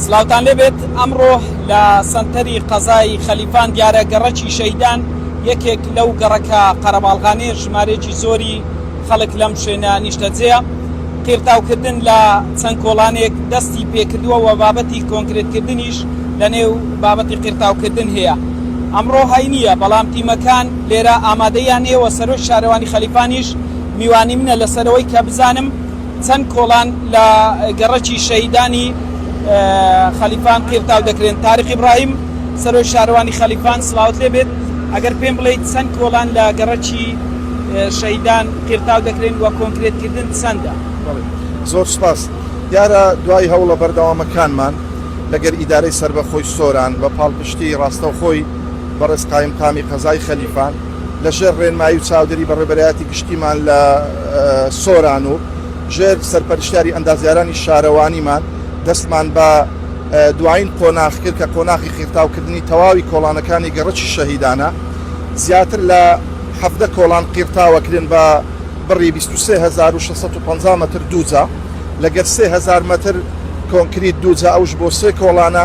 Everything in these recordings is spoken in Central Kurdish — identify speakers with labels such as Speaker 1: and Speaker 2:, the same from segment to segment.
Speaker 1: سلاوتان لێ بێت ئەمڕۆ لە سەنتەری قەزای خەلیفان دیارە گەڕەکی شەهیدان یەکێک لەو گەڕەکە قەرەباڵغانەیە ژمارەیەکی زۆری خەڵک لەم شوێنە نیشتەجێیە قیرتاوکردن لە چەند کۆڵانێک دەستی پێکردووە و بابەتی کۆنکرێتکردنیش لە نێو بابەتی قیرتاوکردن هەیە ئەمڕۆ هەینیە بەڵام تیمەکان لێرە ئامادەیان هەیە و سەرۆکی شارەوانی خەلیفانیش میوانی منە لەسەرەوەی کە بزانم چەند کۆڵان لە گەڕەکی شەهیدانی خەلیفان قیرتاو دەکرێن. تاریق ئیبراهیم، سەرۆک شارەوانی خەلیفان، سڵاوت لێ بێت، ئەگەر پێم بڵێیت چەند کۆڵان لە گەڕەکی شەهیدان قیرتاو دەکرێن و کۆنکرێتکردن چەندە؟ بەڵێ. زۆر
Speaker 2: سوپاس. دیارە دوای هەوڵە بەردەوامەکانمان لەگەر ئیدارەی سەربەخۆی سۆران بە پاڵپشتیی ڕاستەوخۆی بەڕێز قایمقامی قەزای خەلیفان، لەژێر ڕێنمایی و چاودێری بەڕێوبەرایەتی گشتیمان لە سۆران و ژێر سەرپەرشتیاری ئەندازیارانی شارەوانیمان دەستمان بە دوایین قۆناغ کرد کە قۆناغی قیرتاوکردنی تەواوی کۆڵانەکانی گەڕەکی شەهیدانە زیاتر لە حەڤدە کۆڵان قیرتاوە کرێن بە بڕی بیست و سێ هەزار و شەش سەد و پەنجا مەتر دووجا لەگەر سێ هەزار مەتر کۆنکریت دووجا ئەوش بۆ سێ کۆڵانە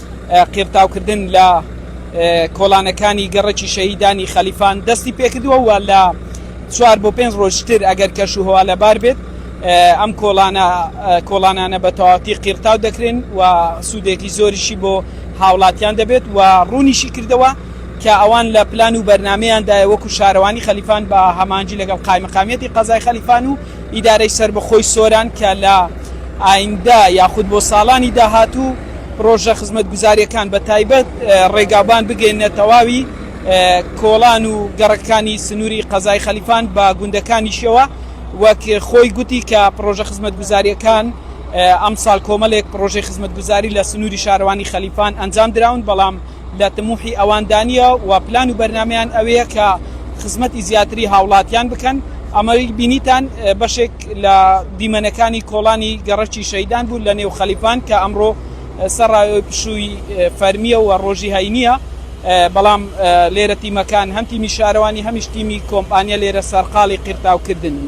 Speaker 1: قیرتاوکردن لە کۆڵانەکانی گەڕەکی شەهیدانی خەلیفان دەستی پێکردووە و لە چوار بۆ پێنج ڕۆژتر ئەگەر کەش و هەوا لەبار بێت ئەم کۆڵانە کۆڵانانە بە تەواتی قیرتاو دەکرێن و سوودێکی زۆریشی بۆ هاوڵاتیان دەبێت و ڕوونیشی کردەوە کە ئەوان لە پلان و بەرنمەیاندایە وەکو شارەوانی خەلیفان بە هەمانجی لەگەڵ قایمەقامیەتی قەزای خەلیفان و ئیدارەی سەربەخۆی سۆران کە لە ئایندە یاخود بۆ ساڵانی داهاتوو پڕۆژە خزمەتگوزارییەکان بە تایبەت ڕێگاوبان بگەیەننە تەواوی کۆڵان و گەڕەکەکانی سنووری قەزای خەلیفان بە گوندەکانیشیەوە وەک خۆی گوتی کە پڕۆژە خزمەتگوزارییەکان ئەمساڵ کۆمەلێک پڕۆژەی خزمەتگوزاری لە سنووری شارەوانی خەلیفان ئەنجام دراون بەڵام لە تموحی ئەواندا نیە و پلان و بەرنامەیان ئەوەیە کە خزمەتی زیاتری هاوڵاتیان بکەن، ئەمەی بینیتان بەشێک لە دیمەنەکانی کۆڵانی گەڕەکی شەهیدان بوو لەنێو خەلیفان کە ئەمڕۆ سەڕای پشووی فەرمیە و ڕۆژی هەینیە بەڵام لێرە تیمەکان هەم تیمی شارەوانی هەمیش تیمی کۆمپانیا لێرە سەرقاڵی قیرتاوکردنن.